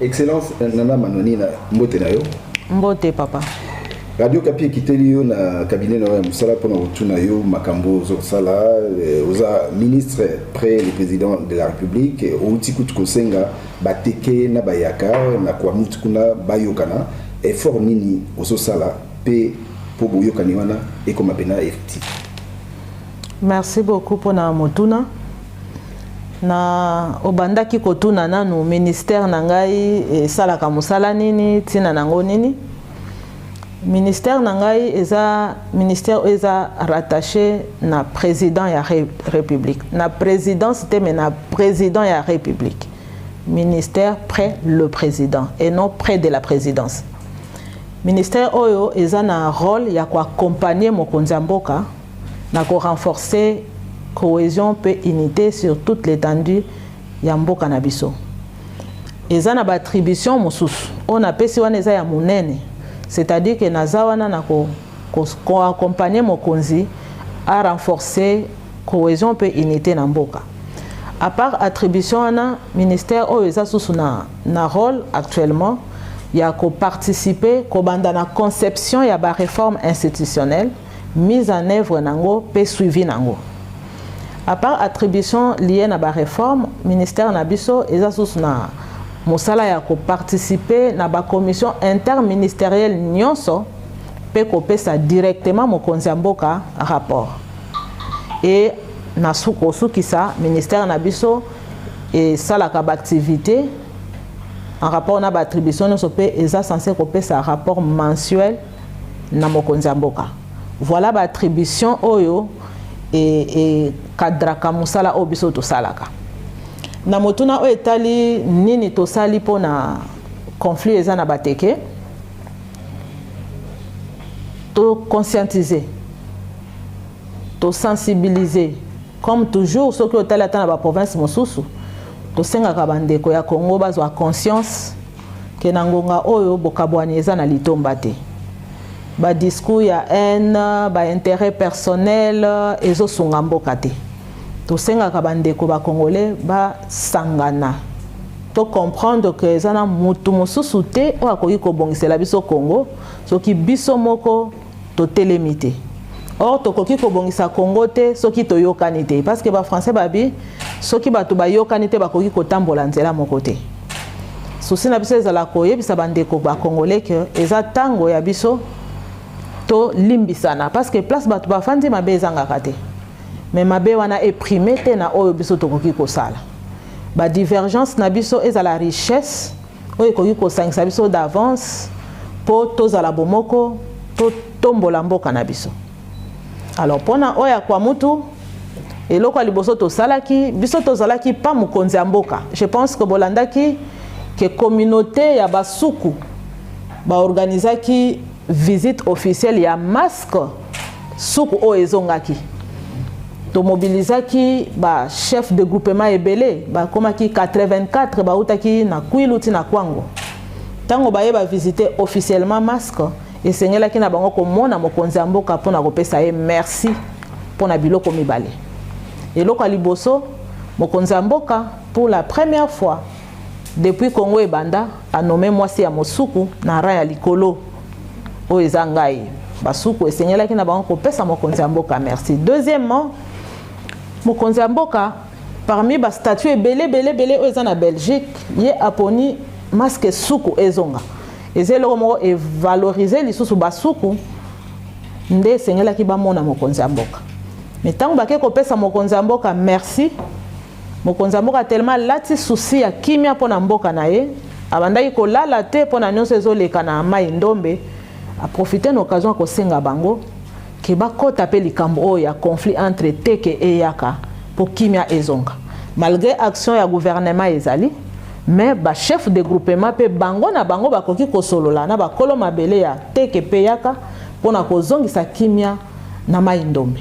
Excellence euh, Nana Manonina, mbote na yo. Mbote papa. Radio Kapi ekiteli yo na cabinet na yo ya mosala mpo na kotuna yo makambo ozosala euh, oza ministre près le président de la république outi kutu kosenga bateke na bayaka na kuamutu kuna bayokana effort nini ozosala mpe mpo boyokani wana ekoma mpena effectif merci beaucoup mpo na motuna na obandaki kotuna nanu ministère na ngai esalaka mosala nini ntina na yango nini ministère na ngai eza ministère oyo eza rattaché na président ya re, république na présidence te mais na président ya république ministère près le président et non près de la présidence ministère oyo eza na rôle ya koaccompagner mokonzi ya mboka na ko renforcer cohesion mpe unite sur toute l'etendue ya mboka na biso. Eza na ba attributions mosusu oyo napesi wana eza ya monene, c'est-à-dire que naza wana na ko ko accompagner mokonzi a renforcer cohesion mpe unite na mboka. A part attribution wana, ministère oyo eza susu na, na role actuellement ya ko participer kobanda na conception ya ba reformes institutionnelles mise en œuvre nango pe suivi nango. A part attribution liee na ba reformes, ministère na biso eza susu na mosala ya ko participer na ba commissions interministerielles nionso pe kopesa directement mokonzi ya mboka rapport. Et na kosukisa ministère na biso esalaka ba activités en rapport na ba attributions nionso pe eza censee kopesa rapport mensuel na mokonzi ya mboka. Voilà ba attribution oyo e, e kadraka mosala oyo biso tosalaka. Na motuna oyo etali nini tosali mpo na conflit eza na bateke, to conscientiser, to sensibiliser comme toujours soki otali ata na ba province mosusu tosengaka bandeko ya Congo bazwa conscience que na ngonga oyo bokabwani eza na litomba te. Ba discours ya haine, ba interet personnel ezosunga mboka te. Tosengaka bandeko ba Congolais basangana to comprendre que eza na mutu mosusu te oyo akoki kobongisela biso Congo soki biso moko Totelemi te. Or tokoki kobongisa Congo te soki toyokani te parce que ba français babi soki bato bayokani te bakoki kotambola nzela moko te. Susi na biso ezala koyebisa bandeko ba congolais que eza tango ya biso tolimbisana parce que place bato bafandi mabe ezangaka te mais mabe wana eprime te na oyo biso tokoki kosala. Ba divergence na biso ezala richesse oyo ekoki kosangisa biso d'avance mpo tozala bomoko totombola mboka na biso alors mpona oyo akwa mutu eloko ya liboso tosalaki biso tozalaki pa mokonzi ya mboka je pense que bolandaki ke communauté ya basuku baorganizaki visite officielle ya masque suku oyo ezongaki tomobilizaki bachef de groupement ebele bakomaki 84 bautaki na kwilu ti na kwango ntango baye bavisite officiellement masque esengelaki na bango komona mokonzi ya mboka mpo na kopesa ye merci mpo na biloko mibale eloko ya liboso mokonzi ya mboka pour la première fois Depuis Congo ebanda, a nomme mwasi ya mosuku na rang ya likolo. Oyo eza ngai. Basuku esengelaki na bango kopesa mokonzi ya mboka merci. Deuxièmement, mokonzi ya mboka parmi ba statut ebele bele bele oyo eza na Belgique, ye aponi masque suku ezonga. Eza eloko moko evalorize lisusu basuku nde esengelaki bamona mokonzi ya mboka. Mais ntango bake kopesa mokonzi ya mboka merci, Mokonzi ya mboka tellement alati souci ya kimia mpo na mboka na ye, abandaki kolala te mpo na nionso ezoleka na Mayi Ndombe, a profiter na occasion ya kosenga bango que bakota mpe likambo oyo ya conflit entre Teke et Yaka mpo kimia ezonga. Malgre action ya gouvernement ezali, mais ba chefs de groupement mpe bango na bango bakoki kosolola na bakolo mabele ya Teke mpe Yaka mpo na kozongisa kimia. na Mayi Ndombe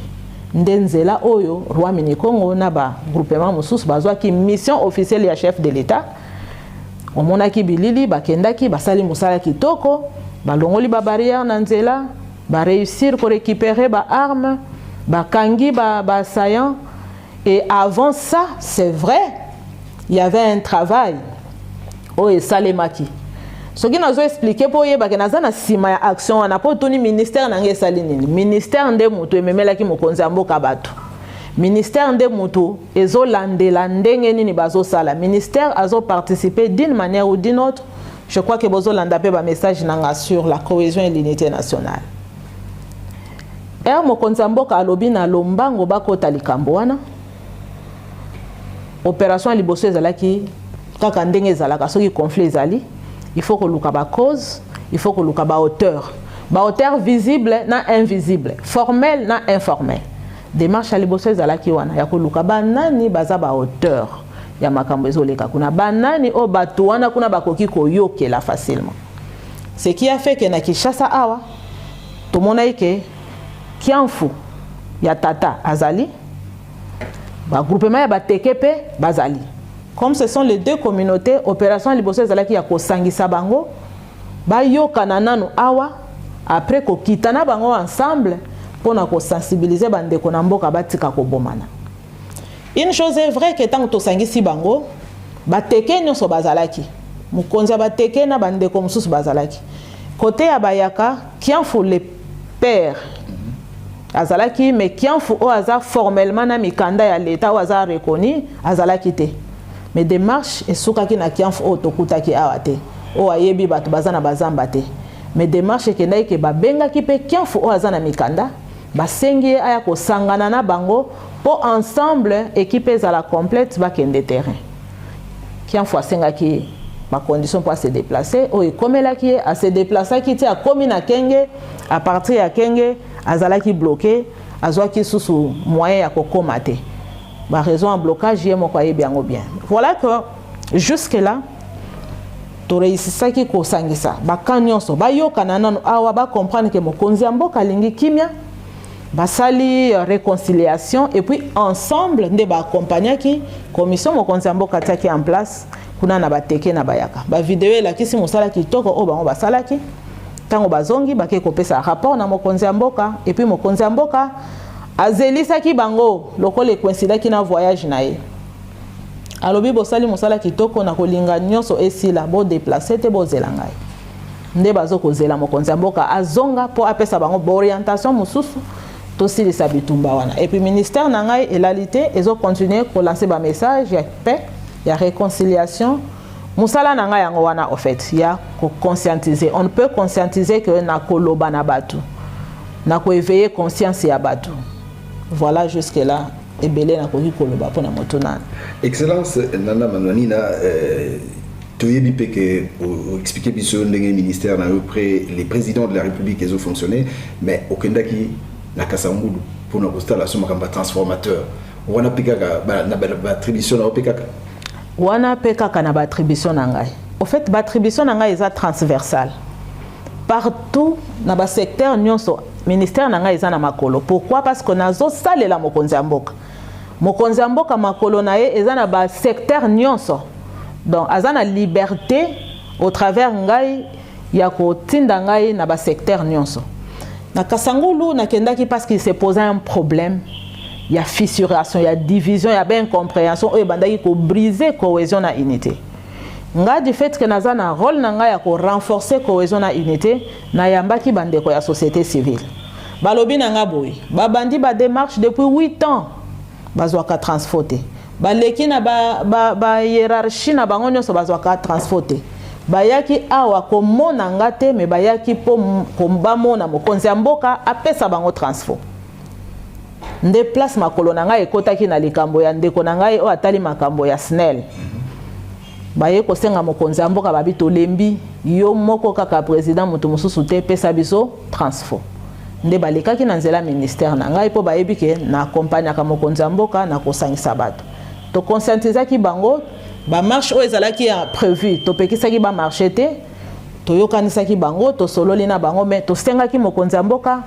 nde nzela oyo Roi Minikongo na ba groupement mosusu bazwaki mission officielle ya chef de l'Etat. Omonaki bilili, bakendaki basali mosala kitoko, balongoli ba barrières na nzela, ba reussir ko recuperer ba armes, bakangi ba assaillants. Et avant ça, c'est vrai, il y avait un travail. Oh, et Salemaki. Ce qui nous a expliqué pour y avoir une sima ya action, on a pas tenu ministère n'a rien sali nini. Ministère nde mutu et même là qui mokonzi amboka batu. Ministère nde mutu et zo lande la ndenge nini bazo sala. Ministère a zo participé d'une manière ou d'une autre. Je crois que bozo landa pe ba message nanga sur la cohésion et l'unité nationale. Heure mokonzi ya mboka alobi na lombango bakota likambo wana, operation ya liboso ezalaki kaka ndenge ezalaka soki conflit ezali il faut koluka ba cause il faut koluka ba hauteur ba hauteur visible na invisible formel na informel démarche ya liboso ezalaki wana ya koluka banani baza ba hauteur ya makambo ezoleka kuna banani oyo bato wana kuna bakoki koyokela facilement ce qui a fait que na kinshasa awa tomonaki ke kiamfu ya tata azali bagroupema ya bateke mpe bazali comme ce sont les deux communautés opération ya liboso ezalaki ya kosangisa bango bayokana nanu awa après kokita na bango ensemble mpo na kosensibilize bandeko na mboka batika kobomana une chose est vrai ke ntango tosangisi bango bateke nyonso bazalaki mokonzi ya bateke na bandeko mosusu bazalaki Cote ya bayaka Kianfu le père azalaki mais Kianfu oyo aza formellement na mikanda ya l'etat oyo aza reconnu azalaki te mais démarche esukaki na Kianfu oyo tokutaki awa te oyo ayebi bato baza na bazamba te mais démarche ekendaki ke babengaki mpe Kianfu oyo aza na mikanda basengi ye aya kosangana na bango mpo ensemble ekipe ezala complète bakende terrain Kianfu asengaki ye ba conditions mpo ase deplace oyo ekomelaki ye ase deplaceaki ti akomi na kenge a partir ya kenge azalaki bloke azwaki susu moyen ya kokoma te ba raison ya blocage ye moko ayebi yango bien voilà que jusque là toreisisaki kosangisa bakan nyonso bayokana nano awa bacomprendre ke mokonzi ya mboka alingi kimya basali euh, reconciliation et puis ensemble nde ba accompagnaki commission mokonzi ya mboka atiaki en place kuna na bateke na bayaka bavideo elakisi mosala kitoko oyo bango basalaki ntango bazongi bakei kopesa rapport na mokonzi ya mboka epuis mokonzi ya mboka azelisaki bango lokola ekoinsidaki na voyage na ye alobi bosali mosala kitoko na kolinga nyonso esila bodeplace te bozela ngai nde bazo kozela mokonzi ya mboka azonga mpo apesa bango baorientation mosusu tosilisa bitumba wana epuis ministère na ngai elali te ezokontinue kolanse bamessage ya paix ya réconciliation mosala na ngai yango wana au fait ya koconscientiser on peut conscientiser que na koloba na bato na koeveille conscience ya bato voilà jusque là ebele nakoki koloba mpo na moto nana excellence nana manwanina euh... toyebi mpe ke oexplike biso ndenge ministère na yo près les présidents de la république ezo fonctionner mais okendaki na kasangulu mpona kosala so makambo ya transformateur wana mpe kaka na baattribution na yo mpe kaka wana mpe kaka na baattribution na ngai au fait baattribution na ngai eza transversale partout na basecteur nyonso ministère na ngai eza na makolo pourquoi parce que nazosalela mokonzi ya mboka Mokonzi ya mboka makolo na ye eza na ba secteur nyonso donc aza na liberte au travers ngai ya kotinda ngai na ba secteur nyonso na kasangulu nakendaki parce qu'il se posa un problème ya fissuration ya division ya baincomprehension oyo ebandaki kobrise cohésion na unité ngai du fait que naza na role na ngai ya korenforce cohésion na unité Nayambaki bandeko ya societe civile. Balobi na nga boye, babandi ba demarches depuis huit ans, bazwaka transfo te. Baleki na ba, ba, ba hierarchie na bango nyonso bazwaka transfo te. Bayaki awa komona nga te, me bayaki mpo bamona mokonzi ya mboka apesa bango transfo. nde place makolo na ngai ekotaki na likambo ya ndeko na ngai oyo atali makambo ya snel Baye kosenga mokonzi ya mboka babi tolembi yo moko kaka president mutu mususu te pesa biso transfo nde balekaki na nzela ministère na ngai mpo bayebi ke na accompagnaka mokonzi ya mboka na kosangisa bato toconscientisaki bango bamarche oyo ezalaki ya prévu topekisaki bamarche te toyokanisaki bango tosololi na bango me tosengaki mokonzi ya mboka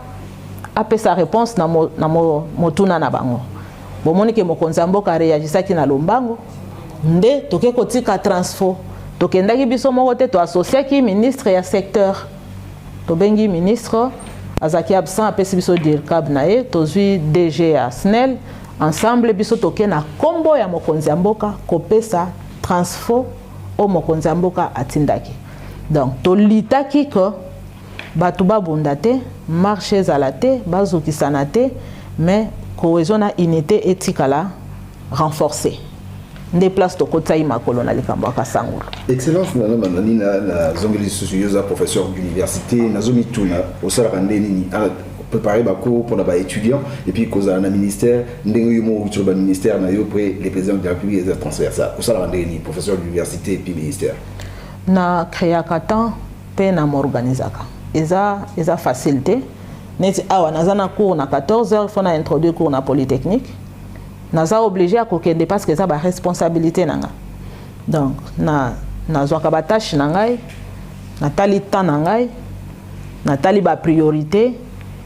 apesa réponse na, mo, na mo, motuna na bango Bomoni ke mokonzi ya mboka reagisaki na lombango, nde toke kotika transfo. Tokendaki biso moko te, toasosiaki ministre ya secteur. Tobengi ministre, azalaki absent, apesi biso dircab na ye, tozwi DG ya SNEL, ensemble biso toke na kombo ya mokonzi ya mboka kopesa transfo o mokonzi ya mboka atindaki. Donc tolitaki que Bato babunda te, marche ezala te, bazokisana te, mais cohesion na unite etikala renforcer. nde place tokotisaki makolo na likambo ya kasangulu excellence nana manani nazongeli lisusu yo oza professeur d'université nazomituna osalaka nde nini ah, préparer bacours mpona baétudiant et puis kozala na ministère ndenge yo moko okitolo baministère na yo mpe le président de la république eza transversal osalaka ndenge nini professeur d'université et puis ministère na créaka temps pe na m'organisaka eza eza facile te neti awa naza na cours na 14 heures faut na introduire cours na polytechnique naza oblige ya kokende parce que eza ba responsabilité na nga donc na nazwaka ba tâche na ngai natali temps na ngai natali ba priorité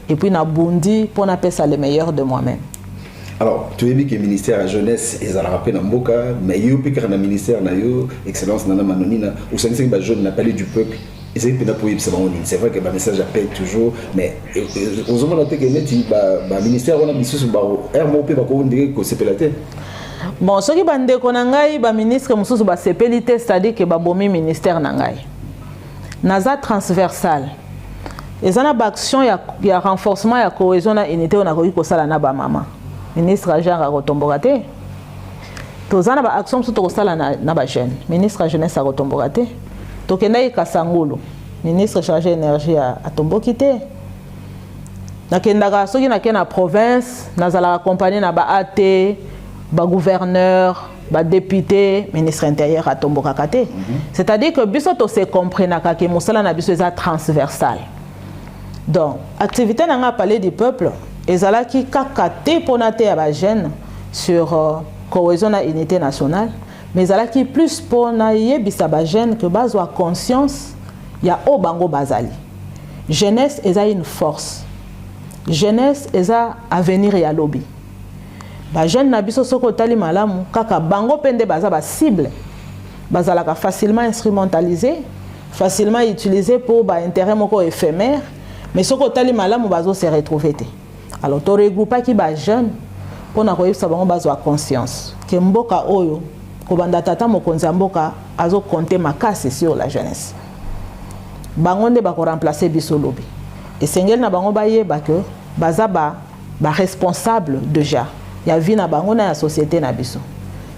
et puis nabundi mpo napesa le meilleur de moi-même alors toyebi ke ministère ya jeunesse ezalaka mpe na mboka mais yo mpe kaka na ministère na yo excellence nana manonina osangisaki ba jeune na palais du peuple ezali mpenza mpo oyebisa bango nini c'est vrai que bamessage ya paix toujours mais euh, euh, ozomona te ke neti baministère wana misusu baheure moko mpe bakoki ndenge kosepela te bon soki bandeko na ngai baministre mosusu basepeli te c'est-à-dire ke babomi ministère na ngai naza transversal eza na baaction ya, ya renforcement ya cohesion na unité oyo nakoki kosala na bamama ministre ya genre akotomboka te toza na baaction mosusu tokosala na, na bajeune ministre ya jeunesse akotomboka te tokendaki kasangulu ministre chargé énergie atomboki te nakendaka soki nake na province nazalaka accompagne na ba at bagouverneur ba député ministre intérieur atombokaka te mhm. c'est à dire que biso to se comprenaka ke mosala na biso eza transversal donc activité na nga palais du peuple ezalaki kaka te mpona te ya bajeune sur euh, cohésion na unité nationale mais ezalaki plus mpo nayebisa bajeune ke bazwa conscience ya oyo bango bazali jeunesse eza une force jeunesse eza avenir ya lobi Ba jeunes na biso soki otali malamu kaka bango pe nde baza ba cible bazalaka facilement instrumentalisé facilement utilisé pour ba intérêt moko éphémère mais soki otali malamu bazo se retrouver te alors to regroupaki ba jeunes pona koyebisa bango bazwa conscience ke mboka oyo kobanda tata mokonzi ya mboka azo compte makasi sur la jeunesse bango nde bako remplacer biso lobi esengeli na bango bayeba ke baza ba ba responsable dejà ya vie na bango na ya societe na biso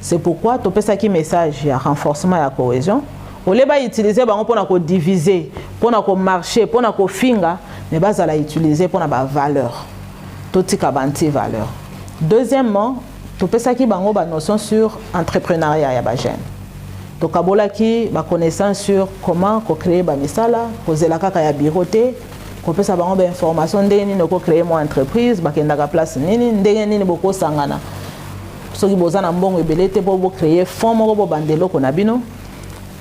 c'est pourquoi topesaki message ya renforcement ya cohesion olie ba utiliser bango pona ko diviser pona ko marcher pona ko finga mais bazala utiliser pona ba valeur totika ba anti valeur deuxièmement topesaki bango ba notion sur entrepreneuriat ya ba jeune tokabolaki ba connaissance sur comment ko créer ba misala kozela kaka ya bureau te kopesa bango ba information ndenge nini oko créer mwa entreprise bakendaka place nini ndenge nini bokosangana soki boza na mbongo ebele te mpo bocréer fond moko bobanda eloko na bino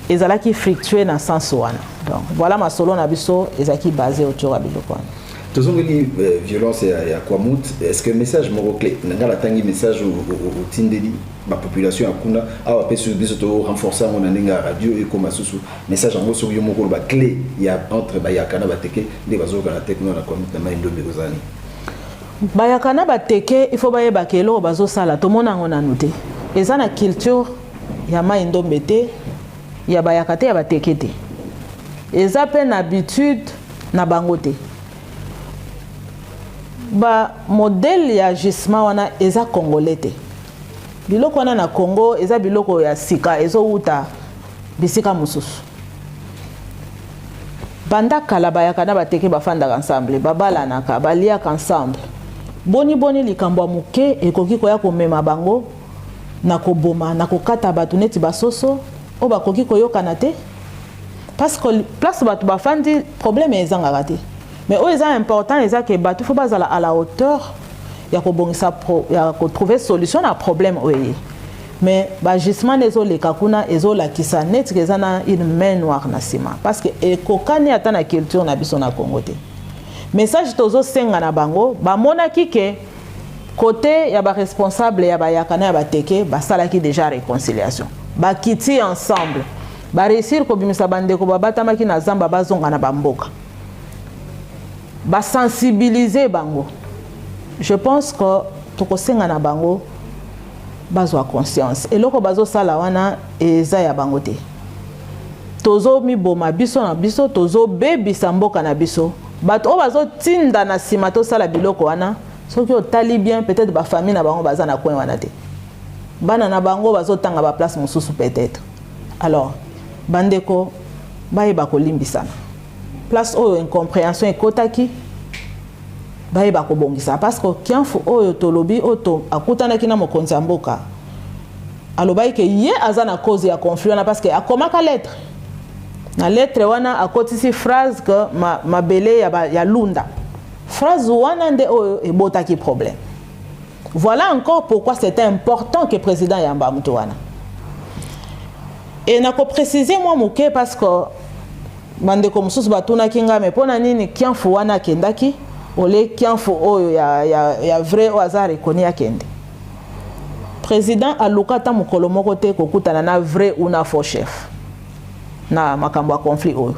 ezalaki fructueux na sens wana donc voilà masolo na biso ezalaki base otyoka biloko wana tozongeli euh, violence ya, ya kwamut est ce que message moko clé na ngai natangi message otindeli bapopulation ya kuna awa mpe biso to renforce yango na ndenge ya radio ekoma susu Message yango soki yo moko ba clé ya entre bayaka na bateke nde bazoyoka na tekno na commune na mai ndombe kozala nini bayaka na bateke il faut bayeba ke eloko bazosala tomona yango nanu te eza na culture ya mai ndombe te ya bayaka te ya bateke te eza mpe na habitude na bango te ba modèle ya gisement wana eza congolais te biloko wana na congo eza biloko ya sika ezowuta Bisika mosusu, banda kala bayaka na bateke, bafandaka ensemble, babalanaka, baliaka ensemble. Boniboni likambo ya moke ekoki koya komema bango na koboma, na kokata bato neti basoso oyo bakoki koyokana te? Parce que place bato bafandi, problème ezangaka te. Mais oyo eza important eza ke bato faut bazala à la hauteur ya kobongisa ya kotrouver solution na problème oyo eye. Mais b'agissement na ezo leka kuna ezo lakisa neti ke eza na une main noire na sima parce que ekokani ata na culture na biso na Congo te. Message tozo senga na bango bamonaki ke kote ya ba responsable ya bayaka na ya bateke basalaki deja reconciliation bakiti ensemble bareusir kobimisa bandeko babatamaki na zamba bazonga na bamboka basensibilize bango je pense que tokosenga na bango bazwa conscience eloko bazosala wana eza ya bango te tozomiboma biso na biso tozobebisa mboka na biso bato oyo bazotinda na nsima tosala biloko wana soki otali bien peut-être bafamille na bango baza na coin wana te bana na bango bazotanga baplace mosusu peut-être alors bandeko bayeba kolimbisana place oyo incomprehension ekotaki bayeba kobongisa parce que kianfu oyo tolobi oyo akutanaki na mokonzi ya mboka alobaki ke ye aza na cause ya conflit wana parce que akomaka lettre na lettre wana akotisi phrase que ma, mabele ya, ba, ya lunda phrase wana nde oyo ebotaki problème Voilà encore pourquoi c'est important que président yamba mutu wana. Et nako préciser moi moke parce que bandeko mosusu batunaki ngai me mpo na nini kianfu wana akendaki ole kianfu oyo ya, ya, ya vrai oyo aza rekoni akende président aluka ata mokolo moko te kokutana na vrai ou na faux chef na makambo ya conflit oyo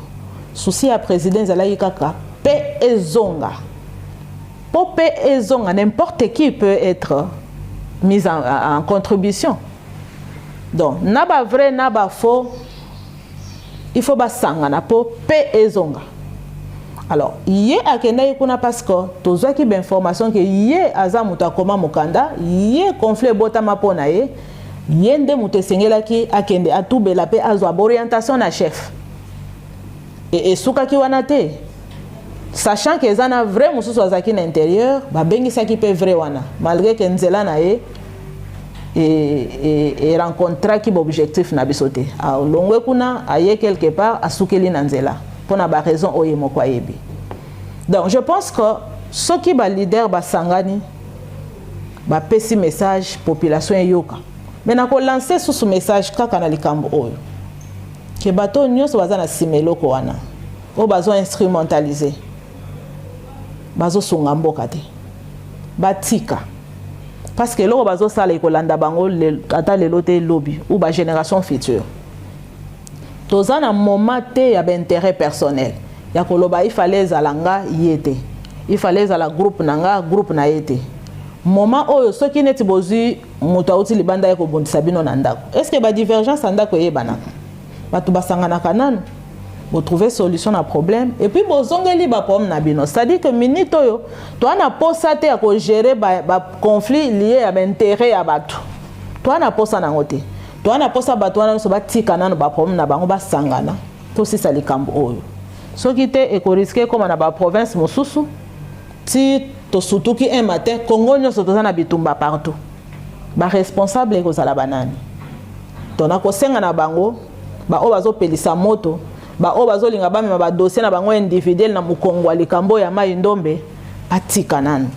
susi ya président ezalaki kaka mpe ezonga Po pe ezonga n'importe qui peut etre mise en, en contribution. Donc na ba vrai na ba faux il faut basangana po pe ezonga. Alors ye akendaki kuna parce que tozwaki ba information ke ye aza moto akoma mokanda, ye conflit ebotama mpo na ye, ye nde moto esengelaki akende atubela pe azwa ba orientation na chef. Et esukaki wana te sachant que eza na vrai mosusu azalaki na interieur babengisaki mpe vrai wana malgré que nzela na ye erencontraki e, e, e baobjectif na biso te alongwe kuna aye quelque part asukeli na nzela mpo na baraison oyo ye moko ayebi donc je pense que soki baleader basangani bapesi message population eyoka me nakolanse susu message kaka na likambo oyo Que bato oyo nyonso baza na sima eloko wana oyo bazo instrumentalise bazo sunga mboka te batika parce que eloko bazo sala ekolanda bango ata lelo te lobi ou ba génération future toza na moment te ya ba intérêt personnel ya koloba il fallait ezala nga ye te il fallait ezala groupe na nga groupe na ye te moment oyo soki neti bozwi moto auti libanda ye kobundisa bino na ndako est ce que badivergence ya ndako eyebanaka bato basanganaka nanu botrouve solution na problème et puis bozongeli baproblème na bino c'est-à-dire que minute oyo toa na posa te ya kogere baconflit ba lie ya baintérêt ya bato toa na posa nango te toa na posa bato wana nyonso batika nano baproblème na bango basangana tosisa likambo oyo soki te ekoriske ekóma na baprovince mosusu ti tosutuki un matin congo nionso toza na bitumba partout ba responsable ekozala banani to nakosenga na bango baoyo bazopelisa moto baoyo bazolinga bamema badosie na bango individuel na mokongo ya likambo ya mai ndombe batika nanu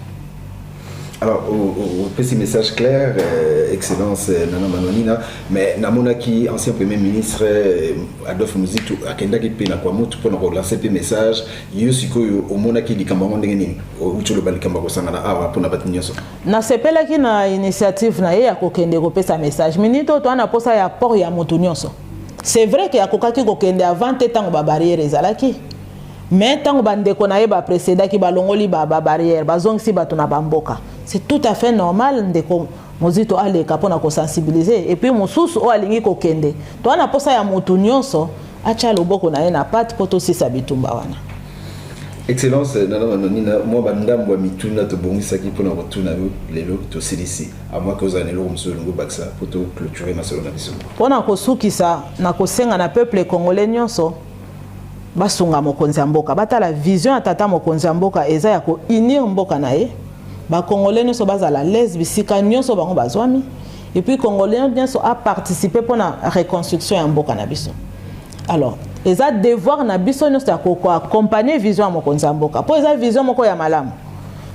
Alors, au, petit message clair, euh, Excellence euh, Nana Manonina, mais namonaki ancien Premier ministre euh, Adolphe Muzitu akendaki mpe na Kwamutu mpo na kolancer mpe message yo sikoyo omonaki likambo yango ndenge nini outi oloba likambo ya kosangana awa mpona bato nyonso nasepelaki na initiative na ye ya kokende kopesa message minute oyo toa na mposa ya port ya moto nyonso c'est vrai ke akokaki kokende avant te ntango babarrière ezalaki mais ntango bandeko na ye bapresedaki balongoli babarrière bazongisi bato na bamboka c'est tout à fait normal ndeko mozito aleka pona ko sensibiliser et puis mosusu oyo alingi kokende toa na posa ya mutu nyonso atia loboko na ye na pate mpo tosisa bitumba wana excellence eh, nana manonina mwa bandambo ya mituna tobongisaki mpona kotuna yo lelo tosilisi amwaki ozala na eloko mosusu olingi obakisa mpo toclôture masolo na biso mpo na kosukisa na kosenga na peuple congolais nyonso basunga mokonzi ya mboka batala vision ya tata mokonzi ya mboka eza ya kounir mboka na ye ba congolais nioso bazala alaise bisika nioso bango bazwami et puis congolais nioso a participer pona reconstruction ya mboka na biso alors eza devoir na biso nioso ya ko accompagner vision ya mokonzi ya mboka po eza vision moko ya malamu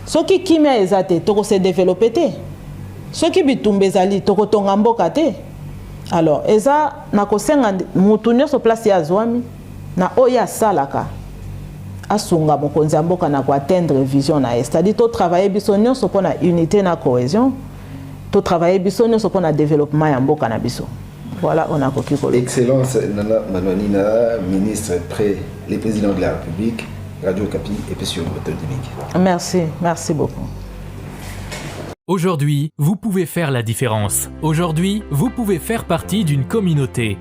soki kimia eza te toko se développer te soki bitumba ezali toko tonga mboka te alors eza na kosenga mutu nioso place ya azwami na oyo ye asalaka asunga mokonzi ya mboka na ko atteindre vision na ye c'est à dire to travailler biso nyonso mpo na unité na cohesion to travailler biso nyonso mpo na développement ya mboka na biso voilà on a koki koloba excellence nana manonina ministre près le président de la république radio kapi epesi yo moto dibiki merci merci beaucoup Aujourd'hui, vous pouvez faire la différence. Aujourd'hui, vous pouvez faire partie d'une communauté.